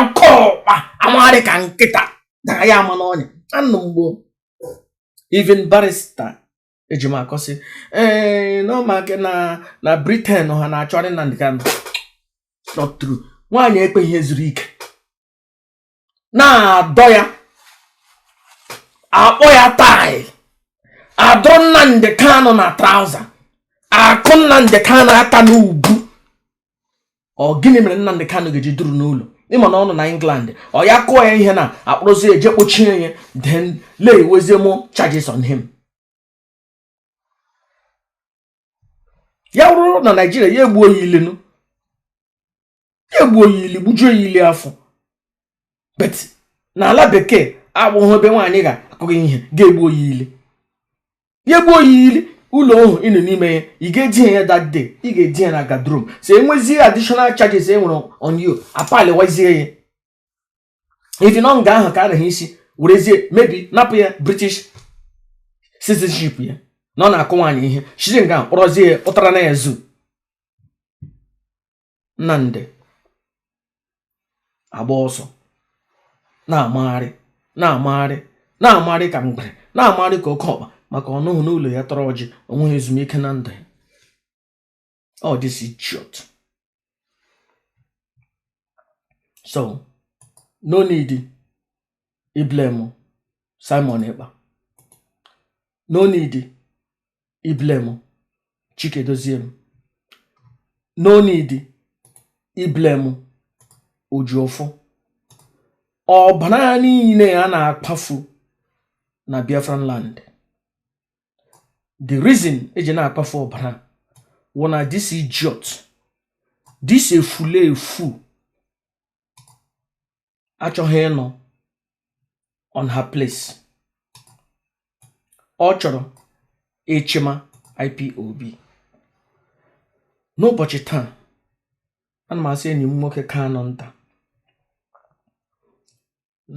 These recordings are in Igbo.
oke ọkpa amagharị ka nkịta na ya ama n'ọnya anụ mgbo even barrister Ejimakọ sị ee eh, na ọ maka na Britain ha na-achọgharị Nnamdi Kanu not true nwaanyị ekpeghị ezuru ike na-adọ ya akpọ ya tie adọ Nnamdi Kanu na trouser akụ Nnamdi Kanu aka n'ubu ọ gịnị mere Nnamdi Kanu ga-eji duru n'ụlọ ịma na ọ nọ na England ọ ya kụọ ya ihe na akpụrụzi eje kpọchie ya then lay wezie more charges on him ya wụrụ na Nigeria ya egbuo ya ilenu ya gbuo ya ili gbujuo ya ili afọ but na ala bekee agbụghị ebe nwaanyị ga-akụ gị ihe gị egbuo ya ili ya gbuo ya ili ụlọ ọhụ ị nọ n'ime ya ị ga-eji ya that day ị ga-eji ya na guardroom so enwezie additional charges e nwere on you apaliwazie ya even na nga ahụ ka a naghị isi werezie maybe napụ ya British citizenship ya na ọ na-akụ nwaanyị ihe shizi nga kpọrọzie ya pụtara na ya zoo Nnamdi agba ọsọ na-amagharị na-amagharị na-amagharị ka mgbere na-amagharị ka oke ọkpa maka ọ nọhụ n'ụlọ ya tọrọ ọjị o nweghị ezumike na ndụ ya ọ this idiot so no need ị blame Simon Ekpa no need ị blame Chika Edoziem no need ị blame Ejiofor ọbara niile a na-akpafu na Biafran land the reason e ji na-akpafu ọbara wụ na this idiot this efulefu achọghị ịnọ on her place ọ chọrọ ịchịma IPOB n'ụbọchị taa ana m asị enyi m nwoke Kanu nta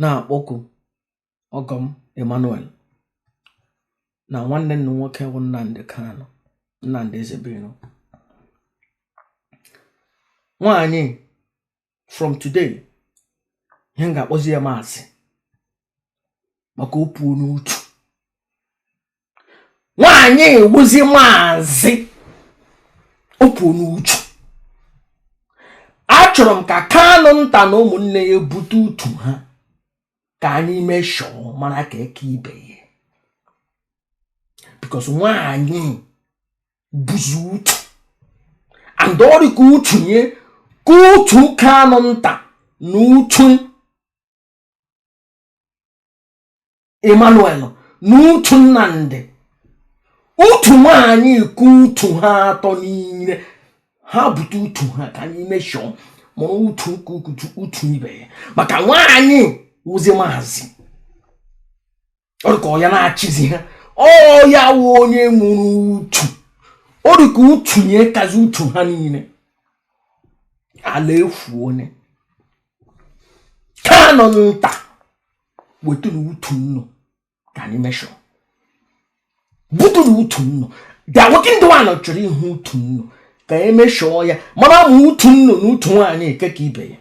na-akpọku ọgọ m Emmanuel na nwanne unu nwoke bụ Nnamdi Kanu Nnamdi Ezebiro nwaanyị from today ihe m ga-akpọzi ya maazị maka o puona utu nwaanyị a wụzi maazị o puona utu achọrọ m ka Kanu nta na ụmụnne ya bute utu ha ka anyị mee show mara nke ka ibe ya because nwaanyị buzu utu and ọ rị ka utu nye ka utu Kanu Nta na utu Emmanuel na utu Nnamdi utu nwanyị ka utu ha atọ niile ha bute utu ha ka anyị measure mara utu ka utu ibe ya maka nwaanyị wụzi maazị ọ rị ka ọ ya na-achịzi ha ọ ya wụ onye nwere utu ọ rị ka utu nye kazi utu ha niile ala efu onye Kanu Nta wetenụ utu nnụ ka anyị measure butenụ utu nnụ bịa nwoke ndị nwaanyị chọrọ ịhụ utu nnụ ka e measure ya mara ma utu nnụ na utu nwaanyị eke ka ibe ya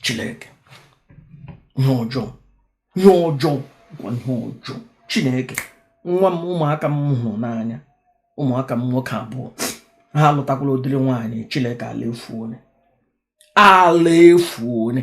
chineke ihe ọjọọ ihe ọjọọ ihe ọjọọ chineke nwa m ụmụaka m hụrụ n'anya ụmụaka m nwoke abụọ ha alụtakwala ụdịrị nwaanyị chineke ala efu onye ala efu onye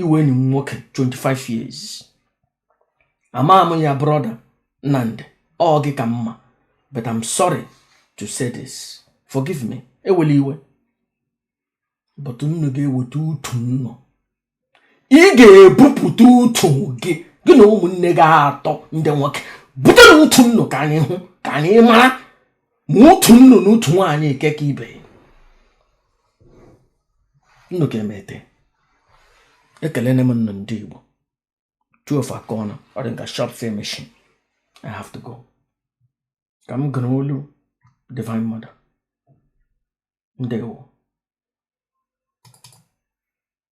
iwe enyi m nwoke 25 years ama m ya brọda Nnamdi ọ gị ka mma but I'm sorry to say this forgive me ewela iwe but nnu ga-eweta utu nnu ị ga-ebupụta utu gị gị na ụmụnne gị atọ ndị nwoke butenụ utu nnu ka anyị hụ ka anyị mara ma utu nnu na utu nwaanyị eke ka ibe nnu ka emete ekelene m nnu ndị Igbo two of aka ọnụ ọ dị nka shop same machine I have to go ka m gụrụ olu Divine Mother ndewo